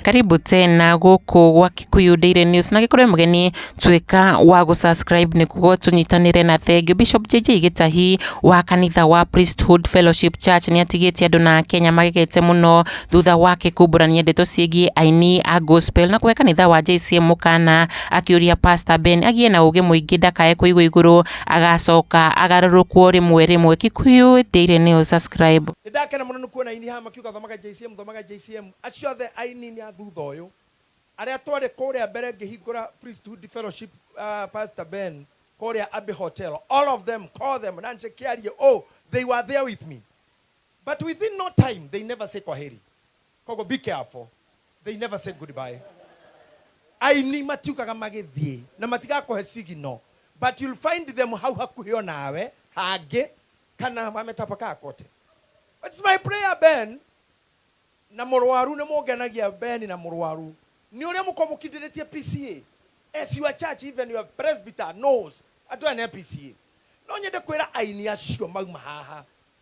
Karibu tena gũkũ gwa Kikuyu Daily News na gĩkorwo mũgeni tuĩka wa gũ subscribe nĩguo tũnyitanĩre na thengiũ. Bishop JJ Gĩtahi wa kanitha wa Priesthood Fellowship Church nĩ atigĩte andũ na Kenya magegete mũno thutha wake kumbũrania ndeto ciĩgiĩ aini a gospel na kũhe kanitha wa JCM mũkana akĩũria Pastor Ben agĩe na ũgĩ mũingĩ ndakae kũigwo igũrũ agacoka agarũrũkwo rĩmwe rĩmwe Kikuyu Daily News subscribe Nĩ ndakena mũno nĩ kuona aini haha makiuga thoma ga JCM thoma ga JCM. Acio othe aini nĩ a thutha ũyũ. Arĩa twarĩ kũrĩa mbere ngĩhingũra Priesthood Fellowship ah, Pastor Ben kũrĩa Abbey Hotel. All of them, call them, na nje kĩarie, oh, they were there with me. But within no time, they never say kwaheri. Koguo be careful. They never say goodbye. Aini matiugaga magĩthiĩ na matigakũhe signal but you'll find them hau hakuhĩ o nawe hangĩ kana wametapakaa kote. It's my prayer Ben na mũrwaru nĩ mũngenagia Ben na mũrwaru nĩ ũrĩa mũkoragwo mũkindĩrĩtie PCA as your church even your presbyter knows andũ aya nĩ a PCA. No nyende kwĩra aini acio mauma haha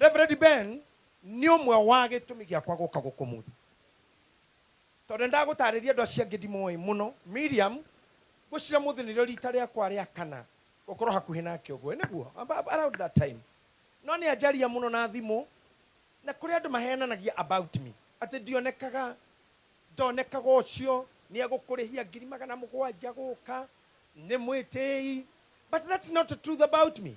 Reverend Ben nĩ ũmwe wa gĩtũmi gĩakwa gũka gũkũ ũmũthĩ. Tondũ nĩndagũtarĩria andũ acio angĩ ndimoĩ mũno. Miriam, ngwĩciria ũmũthĩ nĩrĩo rita rĩakwa rĩa kana gũkorwo hakuhĩ nake ũguo. Ĩ nĩguo? Around that time. No nĩanjaria mũno na thimũ, na kũrĩ andũ maheananagia about me, atĩ ndionekaga, ndonekaga ũcio nĩegũkũrĩhia ngiri magana mũgwanja gũka, nĩ mwĩtĩĩi. But that's not the truth about me.